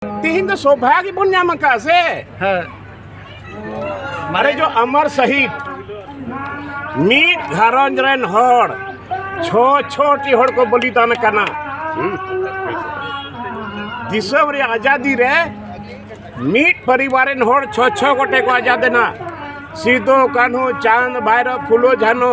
ᱛᱮᱦᱮᱧ ᱫᱚ ᱥᱚᱵᱷᱟ ᱜᱮᱵᱚᱱ ᱧᱟᱢ ᱟᱠᱟᱫ ᱥᱮ ᱦᱮᱸ ᱢᱟᱱᱮ ᱡᱚ ᱟᱢᱟᱨ ᱥᱟᱦᱤᱫ ᱢᱤᱫ ᱜᱷᱟᱨᱚᱸᱡᱽ ᱨᱮᱱ ᱦᱚᱲ ᱪᱷᱚ ᱪᱷᱚᱴᱤ ᱦᱚᱲ ᱠᱚ ᱵᱚᱞᱤᱫᱟᱱ ᱟᱠᱟᱱᱟ ᱫᱤᱥᱚᱢ ᱨᱮ ᱟᱡᱟᱫᱤ ᱨᱮ ᱢᱤᱫ ᱯᱚᱨᱤᱵᱟᱨ ᱨᱮᱱ ᱦᱚᱲ ᱪᱷᱚ ᱪᱷᱚ ᱜᱚᱴᱮ ᱠᱚ ᱟᱡᱟᱫ ᱮᱱᱟ ᱥᱤᱫᱩ ᱠᱟᱹᱱᱦᱩ ᱪᱟᱸᱫᱽ ᱵᱷᱟᱭᱨᱚ ᱯᱷᱩᱞᱳ ᱡᱷᱟᱱᱚ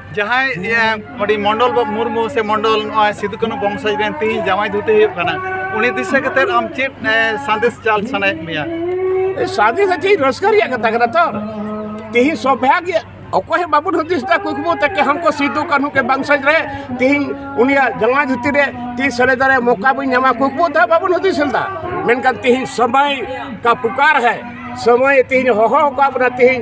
ᱡᱟᱦᱟᱸᱭ ᱟᱹᱰᱤ ᱢᱚᱱᱰᱚᱞ ᱵᱟᱵᱩ ᱢᱩᱨᱢᱩ ᱥᱮ ᱢᱚᱱᱰᱚᱞ ᱱᱚᱜᱼᱚᱭ ᱥᱤᱫᱩ ᱠᱟᱹᱱᱩ ᱵᱚᱝᱥᱚᱡᱽ ᱨᱮᱱ ᱛᱮᱦᱮᱧ ᱡᱟᱶᱟᱭ ᱫᱷᱩᱛᱤ ᱦᱩᱭᱩᱜ ᱠᱟᱱᱟ ᱩᱱᱤ ᱫᱤᱥᱟᱹ ᱠᱟᱛᱮ ᱟᱢ ᱪᱮᱫ ᱥᱟᱸᱫᱮᱥ ᱪᱟᱞ ᱥᱟᱱᱟᱭᱮᱫ ᱢᱮᱭᱟ ᱥᱟᱸᱫᱮᱥ ᱫᱚ ᱪᱮᱫ ᱨᱟᱹᱥᱠᱟᱹ ᱨᱮᱭᱟᱜ ᱠᱟᱛᱷᱟ ᱠᱟᱱᱟ ᱛᱚ ᱛᱮᱦᱮᱧ ᱥᱚᱵᱷᱟᱜᱮ ᱚᱠᱚᱭ ᱦᱚᱸ ᱵᱟᱵᱚᱱ ᱦᱩᱫᱤᱥ ᱮᱫᱟ ᱠᱩᱠᱢᱩ ᱛᱮ ᱠᱮ ᱦᱟᱢᱠᱚ ᱥᱤᱫᱩ ᱠᱟᱹᱱᱦᱩ ᱠᱮ ᱵᱚᱝᱥᱚᱡᱽ ᱨᱮ ᱛᱮᱦᱮᱧ ᱩᱱᱤᱭᱟᱜ ᱡᱟᱶᱟᱭ ᱫᱷᱩᱛᱤ ᱨᱮ ᱛᱮᱦᱮᱧ ᱥᱮᱞᱮᱫ ᱨᱮ ᱢᱚᱠᱟ ᱵᱚᱱ ᱧᱟᱢᱟ ᱠᱩᱠᱢᱩ ᱛᱮ ᱵᱟᱵᱚᱱ ᱦᱩᱫᱤᱥ ᱞᱮᱫᱟ ᱢᱮᱱᱠᱷᱟᱱ ᱛᱮᱦᱮᱧ ᱥᱚᱢᱚᱭ ᱠᱟ ᱯᱩᱠᱟᱨ ᱦᱮ ᱥᱚᱢᱚᱭ ᱛᱮᱦᱮᱧ ᱦᱚᱦᱚ ᱟᱠᱟᱫ ᱵᱚᱱᱟ ᱛᱮᱦᱮᱧ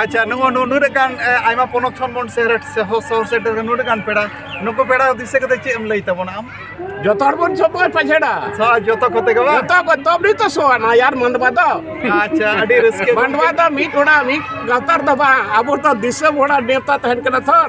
ᱟᱪᱪᱷᱟ ᱱᱚᱜᱼᱚ ᱱᱩᱱᱟᱹᱜ ᱜᱟᱱ ᱟᱭᱢᱟ ᱯᱚᱱᱚᱛ ᱠᱷᱚᱱ ᱵᱚᱱ ᱥᱮᱦᱚᱨ ᱥᱚᱦᱚᱨ ᱥᱮᱴᱮᱨ ᱱᱩᱱᱟᱹᱜ ᱜᱟᱱ ᱯᱮᱲᱟ ᱱᱩᱠᱩ ᱯᱮᱲᱟ ᱫᱤᱥᱟᱹ ᱠᱟᱛᱮ ᱪᱮᱫ ᱮᱢ ᱞᱟᱹᱭ ᱛᱟᱵᱚᱱᱟ ᱟᱢ ᱡᱚᱛᱚ ᱦᱚᱲ ᱵᱚᱱ ᱥᱚᱯᱚᱭ ᱯᱟᱪᱷᱮᱲᱟ ᱥᱚ ᱡᱚᱛᱚ ᱠᱚᱛᱮ ᱜᱮ ᱵᱟᱝ ᱡᱚᱛᱚ ᱠᱚ ᱛᱚᱵ ᱱᱤᱛᱚ ᱥᱚᱣᱟᱱᱟ ᱭᱟᱨ ᱢᱟᱱᱰᱣᱟ ᱫᱚ ᱟᱪᱪᱷᱟ ᱟᱹᱰᱤ ᱨᱟᱹᱥᱠᱟᱹ ᱢᱟᱱᱰᱣᱟ ᱫᱚ ᱢᱤᱫ ᱚᱲᱟᱜ ᱢᱤᱫ ᱜᱟᱶᱛᱟ ᱫᱚ ᱵᱟᱝ ᱟᱵᱚ ᱫᱚ ᱫᱤᱥᱚᱢ ᱦᱚᱲᱟᱜ ᱱᱮᱣᱛᱟ ᱛᱟᱦᱮᱱ ᱠᱟᱱᱟ ᱛᱷᱚᱨ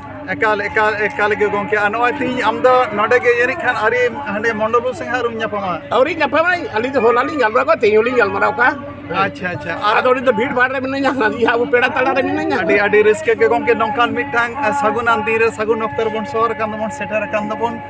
ᱮᱠᱟᱞ ᱮᱠᱟᱞ ᱮᱠᱟᱞ ᱜᱮ ᱜᱚᱝᱠᱮ ᱟᱨ ᱱᱚᱜᱼᱚᱭ ᱛᱤᱦᱤᱧ ᱟᱢ ᱫᱚ ᱱᱚᱰᱮ ᱜᱮ ᱡᱟᱹᱱᱤᱡ ᱠᱷᱟᱱ ᱟᱹᱨᱤ ᱦᱟᱸᱰᱮ ᱢᱚᱱᱰᱚᱞ ᱵᱟᱹᱵᱩ ᱥᱟᱝ ᱟᱹᱣᱨᱤᱢ ᱧᱟᱯᱟᱢᱟ ᱟᱹᱣᱨᱤ ᱧᱟᱯᱟᱢᱟ ᱟᱹᱞᱤᱧ ᱫᱚ ᱦᱚᱞᱟ ᱞᱤᱧ ᱜᱟᱞᱢᱟᱨᱟᱣ ᱠᱚᱣᱟ ᱛᱮᱦᱮᱧ ᱦᱚᱸᱞᱤᱧ ᱜᱟᱞᱢᱟᱨᱟᱣ ᱠᱚᱣᱟ ᱟᱪᱪᱷᱟ ᱟᱪᱪᱷᱟ ᱟᱨ ᱟᱫᱚ ᱩᱱᱤ ᱫᱚ ᱵᱷᱤᱲ ᱵᱷᱟᱲ ᱨᱮ ᱢᱤᱱᱟᱹᱧᱟ ᱦᱟᱹᱱᱤ ᱟᱵᱚ ᱯᱮᱲᱟ ᱛᱟᱲᱟ ᱨᱮ ᱢᱤᱱᱟᱹᱧᱟ ᱟᱹᱰᱤ ᱟᱹᱰᱤ ᱨᱟᱹᱥᱠᱟᱹ ᱜᱮ ᱜᱚᱝᱠᱮ ᱱᱚᱝᱠᱟᱱ ᱢᱤᱫᱴᱟᱝ ᱥᱟᱹᱜᱩᱱᱟᱱ ᱫᱤᱱ ᱨᱮ ᱥᱟᱹᱜᱩᱱ ᱚᱠᱛᱚ ᱨᱮᱵᱚᱱ ᱥᱚᱦᱚᱨ ᱟᱠᱟᱱ ᱫᱚᱵᱚᱱ ᱥᱮᱴᱮᱨ ᱟᱠᱟᱱ ᱫᱚᱵᱚᱱ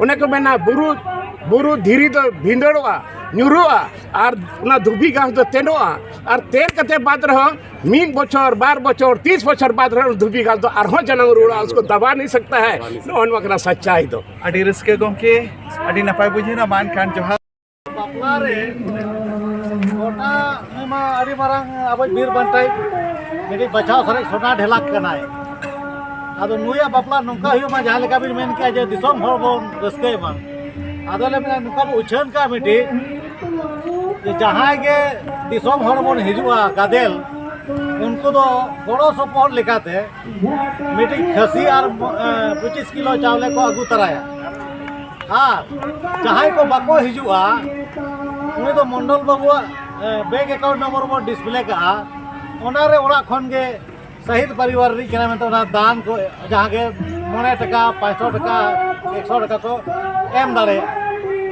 ᱚᱱᱮ ᱠᱚ ᱢᱮᱱᱟ ᱵᱩᱨᱩ ᱵᱩᱨᱩ ᱫᱷᱤᱨᱤ ᱫᱚ ᱵᱷᱤᱸᱫᱟᱹᱲᱚᱜᱼᱟ ᱧᱩᱨᱩᱜᱼᱟ ᱟᱨ ᱚᱱᱟ ᱫᱷᱩᱵᱤ ᱜᱷᱟᱥ ᱫᱚ ᱛᱮᱱᱚᱜᱼᱟ ᱟᱨ ᱛᱮᱱ ᱠᱟᱛᱮ ᱵᱟᱫ ᱨᱮᱦᱚᱸ ᱢᱤᱫ ᱵᱚᱪᱷᱚᱨ ᱵᱟᱨ ᱵᱚᱪᱷᱚᱨ ᱛᱤᱥ ᱵᱚᱪᱷᱚᱨ ᱵᱟᱫ ᱨᱮᱦᱚᱸ ᱫᱷᱩᱵᱤ ᱜᱷᱟᱥ ᱫᱚ ᱟᱨᱦᱚᱸ ᱡᱟᱱᱟᱢ ᱨᱩᱣᱟᱹᱲᱟ ᱩᱥᱠᱚ ᱫᱟᱵᱟ ᱱᱤ ᱥᱟᱠᱛᱟ ᱦᱟᱭ ᱱᱚᱜᱼᱚ ᱱᱚᱣᱟ ᱠᱟᱱᱟ ᱥᱟᱪᱪᱟᱭ ᱫᱚ ᱟᱹᱰᱤ ᱨᱟᱹᱥᱠᱟᱹ ᱜᱚᱢᱠᱮ ᱟᱹᱰᱤ ᱱᱟᱯᱟᱭ ᱵᱩᱡᱷᱟᱹᱣᱱᱟ ᱢᱟ ᱮᱱᱠᱷᱟᱱ ᱡᱚᱦᱟᱨ ᱵᱟᱯᱞᱟ ᱨᱮ ᱜᱚᱴᱟ ᱩᱱᱤ ᱢᱟ ᱟᱹᱰᱤ ᱢᱟᱨᱟᱝ ᱟᱵᱚ ᱵᱤᱨ ᱵᱟᱱᱴᱟᱭ ᱢᱤᱫᱴᱤᱡ ᱵᱟᱪᱷᱟᱣ ᱥᱟᱨᱮᱡ ᱥᱚᱱᱟ ᱰᱷᱮᱞᱟᱠ ᱠᱟᱱᱟᱭ ᱟᱫᱚ ᱱᱩᱭᱟᱜ ᱵᱟᱯᱞᱟ ᱱᱚᱝᱠᱟ ᱦᱩᱭᱩᱜ ᱢᱟ ᱡᱟᱦᱟᱸ ᱞᱮᱠᱟ ᱵᱤᱱ ᱢᱮᱱ ᱠᱮᱜᱼᱟ ᱡᱮ ᱫᱤᱥᱚᱢ ᱦᱚᱲ ᱵᱚᱱ ᱨᱟᱹᱥᱠᱟᱹᱭ ᱢᱟ ᱟᱫᱚ ᱞᱮ ᱢᱮᱱᱟ ᱱᱚᱝᱠᱟ ᱵᱚ ᱩᱪᱷᱟᱹᱱ ᱠᱟᱜᱼᱟ ᱢᱤᱫᱴᱤᱡ ᱡᱮ ᱡᱟᱦᱟᱸᱭ ᱜᱮ ᱫᱤᱥᱚᱢ ᱦᱚᱲ ᱵᱚᱱ ᱦᱤᱡᱩᱜᱼᱟ ᱜᱟᱫᱮᱞ ᱩᱱᱠᱩ ᱫᱚ ᱜᱚᱲᱚ ᱥᱚᱯᱚᱦᱚᱫ ᱞᱮᱠᱟᱛᱮ ᱢᱤᱫᱴᱤᱡ ᱠᱷᱟᱹᱥᱤ ᱟᱨ ᱯᱚᱸᱪᱤᱥ ᱠᱤᱞᱳ ᱪᱟᱣᱞᱮ ᱠᱚ ᱟᱹᱜᱩ ᱛᱟᱨᱟᱭᱟ ᱟᱨ ᱡᱟᱦᱟᱸᱭ ᱠᱚ ᱵᱟᱠᱚ ᱦᱤᱡᱩᱜᱼᱟ ᱩᱱᱤ ᱫᱚ ᱢᱚᱱᱰᱚᱞ ᱵᱟᱹᱵᱩᱣᱟᱜ ᱵᱮᱝᱠ ᱮᱠᱟᱣᱩᱱᱴ ᱱᱚᱢᱵᱚᱨ ᱵᱚᱱ ᱰᱤᱥᱯᱞᱮ ᱠᱟᱜᱼᱟ ᱚᱱᱟᱨᱮ ᱚᱲᱟᱜ ᱠᱷᱚᱱ ᱜᱮ ᱥᱟᱦᱤᱫ ᱯᱟᱨᱤᱵᱟᱨ ᱨᱤᱱᱤᱡ ᱠᱟᱱᱟ ᱢᱮᱱᱛᱮ ᱚᱱᱟ ᱫᱟᱱ ᱠᱚ ᱡᱟᱦᱟᱸ ᱜᱮ ᱢᱚᱬᱮ ᱴᱟᱠᱟ ᱯᱟᱸᱪᱥᱚ ᱴᱟᱠᱟ ᱮᱠᱥᱚ ᱴᱟᱠᱟ ᱠᱚ ᱮᱢ ᱫᱟᱲᱮᱭᱟᱜᱼᱟ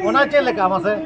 ᱚᱱᱟ ᱪᱮᱫ ᱞᱮᱠᱟ ᱢᱟᱥᱮ